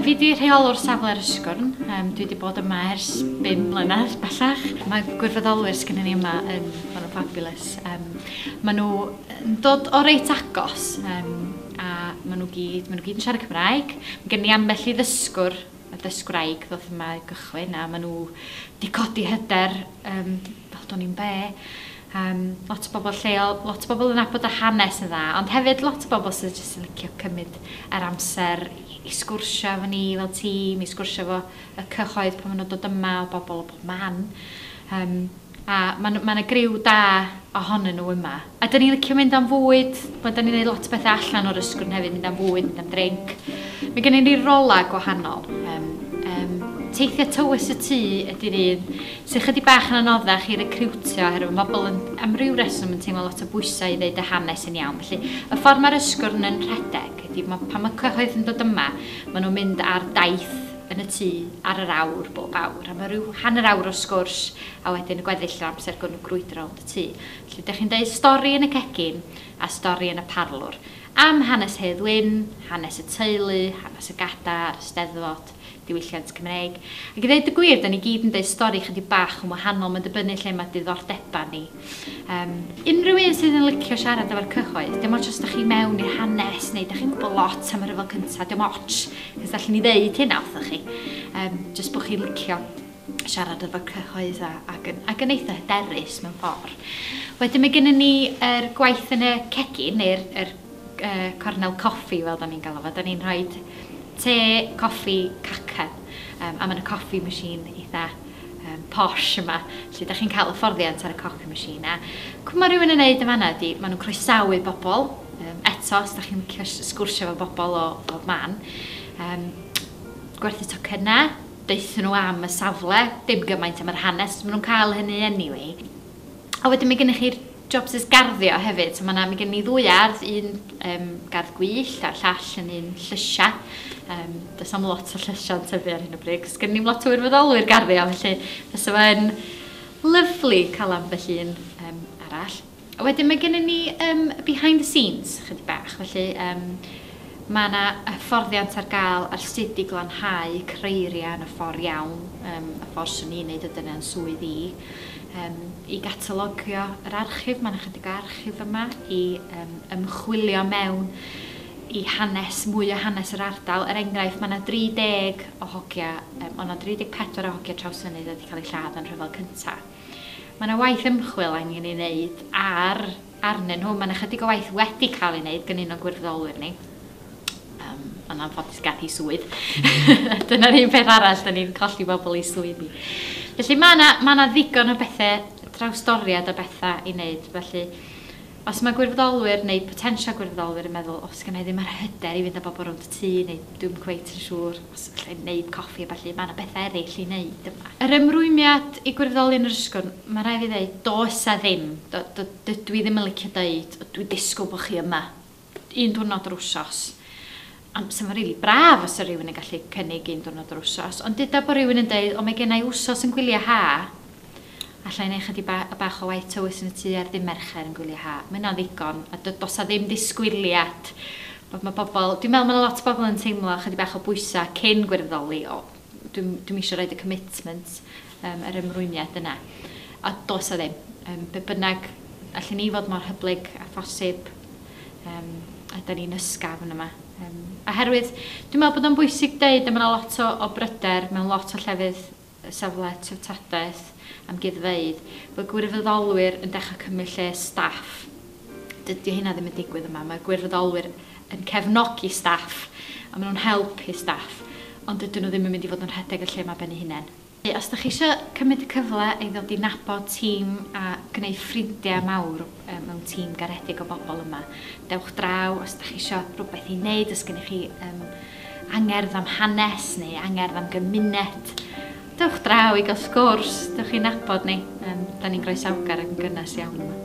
Fi di rheolwr safle'r ysgwrn, um, dwi wedi bod yma ers 5 mlynedd bellach. Mae gwirfoddolwyr sgyn ni yma yn ma nhw'n fabulous. Um, maen nhw yn dod o reit agos um, a maen nhw gyd, maen nhw gyd yn siarad Cymraeg. Mae gen i ambell i ddysgwr y dysgwraig ddoth yma i gychwyn a maen nhw wedi codi hyder um, fel do'n i'n be. Yym, lot o bobl lleol, lot o bobl yn nabod y hanes yn dda, ond hefyd lot o bobl sydd jyst yn licio cymryd yr amser i sgwrsio efo ni fel tîm, i sgwrsio efo y cyhoedd pan ma' nhw'n dod yma, o bobl o bob man. Yym, a ma' 'na ma' 'na griw da ohonyn nhw yma. A 'dan ni'n licio mynd am fwyd, wel 'dan ni'n neud lot o bethe allan o'r ysgwrn hefyd, mynd am fwyd, mynd am drinc. Ma' gennyn ni rola gwahanol, yym yym teithio tywys y tŷ ydi'r un, Sy'n ychydig bach yn anoddach i recriwtio oherwydd mae pobl yn, am ryw reswm, yn teimlo lot o bwysau i ddeud y hanes yn iawn. Felly, y ffordd mae'r ysgwrn yn rhedeg ydy, mae, pan mae cyhoedd yn dod yma, maen nhw'n mynd ar daith yn y tŷ ar yr awr bob awr, a mae rhyw hanner awr o sgwrs a wedyn y gweddill o'r amser gawn nhw grwydro rownd y tŷ. Felly, dych chi'n deud stori yn y cegin a stori yn y parlwr. Am hanes Hedd Wyn, hanes y teulu, hanes y gada' a'r Eisteddfod. diwylliant Cymreig. Ac i ddeud y gwir, 'da ni gyd yn deud stori chydig bach yn wahanol, mae'n dibynnu lle mae diddordebau ni. Um, unrhyw un sydd yn licio siarad efo'r cyhoedd, dim ots os da chi mewn i'r hanes neu da chi'n gwybod lot am y rhyfel cyntaf, dim ots, cys da chi'n ni ddeud hynna wrthych chi. Um, just bod chi'n licio siarad efo'r cyhoedd a, ac, yn, ac yn eitha hyderus mewn ffordd. Wedyn mae gennym ni er gwaith yn y cegin, neu'r er cornel coffi fel 'da ni'n galw fo, 'da ni'n rhoid te, coffi, cacen yym a ma' 'na coffi machine eitha yym posh yma lle 'dach chi'n ca'l hyfforddiant ar y coffi machine a cw' ma' rywun yn neud yn fan 'na ydi ma' nw'n croesawu bobol yym eto os 'dach chi'n licio s- sgwrsio efo bobol o bob man yym gwerthu tocynne, deutho n'w am y safle, dim gymaint am yr hanes, ma' nw'n ca'l hynny anyway a wedyn ma' gennych chi'r jobsus garddio hefyd. So ma' 'na... Mae gen ni ddwy ardd, un yym gardd gwyllt a'r llall yn un llysia. Yym does na'm lot o llysiau'n tyfu ar hyn o bryd, 'c'os gennyn ni'm lot o wirfoddolwyr garddio, felly fysa fo yn lyfli cael ambell un yym arall. A wedyn mae gennyn ni yym behind the scenes chydig bach, felly yym ma' 'na hyfforddiant ar gael ar sut i glanhau creiriau yn y ffordd iawn, yym y ffordd 'swn i'n neud o, dyna 'yn swydd i. Yym, i gatalogio yr archif, mae'n ychydig o archif yma, i yym, ymchwilio mewn i hanes, mwy o hanes yr ardal. Er enghraifft, mae yna 30 o hogia, um, ond 34 o hogia trawsfynydd wedi cael eu lladd yn rhyfel cyntaf. Mae yna waith ymchwil angen ei wneud ar arnyn nhw. Mae'n ychydig o waith wedi cael ei wneud gan un o'n gwirfoddolwyr ni. Um, yn anffodus gath i swydd. Dyna'r un peth arall, da ni'n colli bobl i swydd ni. Felly mae yna, mae yna ddigon o bethau, trawstoriad o bethau i wneud. Felly, os mae gwirfoddolwyr neu potensial gwirfoddolwyr yn meddwl, os gen i ddim yr hyder i fynd â bobl rownd y tŷ, neu dwi'n cweit yn siŵr, Os alla i wneud coffi a ballu, mae yna bethau eraill i wneud yma. Yr ymrwymiad i gwirfoddoli yn yr ysgol, mae'n rhaid i fi ddeud, does 'a ddim. Dydw i ddim yn licio deud, o dwi'n disgwyl bod chi yma un diwrnod yr wsos. Ond 'sa fo'n rili braf os 'sa rhywun yn gallu cynnig un diwrnod yr wsos. Ond deuda bod rhywun yn deud, o mae genna i wsos yn gwyliau ha'. Alla i wneud chydig ba- y bach o waith tywys yn y tŷ ar ddydd Mercher yn gwylio ha. Mae hynna'n ddigon. A do- does 'na ddim disgwyliad bod mae pobl... Dwi'n meddwl mae 'na lot o bobl yn teimlo chydig bach o bwysau cyn gwirfoddoli, o dwi'm dwi'm isio roid y commitment yym yr ymrwymiad yna. A does 'na ddim. Yym be' bynnag, allen ni fod mor hyblyg â phosib yym a 'dan ni'n ysgafn yn yma. Yym oherwydd dwi'n meddwl bod o'n bwysig deud a mae 'na lot o o bryder mewn lot o llefydd safle treftadaeth amgueddfeydd, bod gwirfoddolwyr yn dechrau cymryd lle staff. Dydy hynna ddim yn digwydd yma. Mae gwirfoddolwyr yn cefnogi staff a maen nhw'n helpu staff, ond dydyn nhw ddim yn mynd i fod yn rhedeg y lle yma ben ei hunain. Os ydych chi eisiau cymryd y cyfle i ddod i nabod tîm a gwneud ffrindiau mawr, mewn tîm garedig o bobl yma. Dewch draw os dach chi isio rhywbeth i wneud, os gennych chi um, angerdd am hanes neu angerdd am gymuned. Dewch draw i gael sgwrs, dewch i'n nabod ni. Um, da ni'n groesawgar ac yn gynnes iawn yma.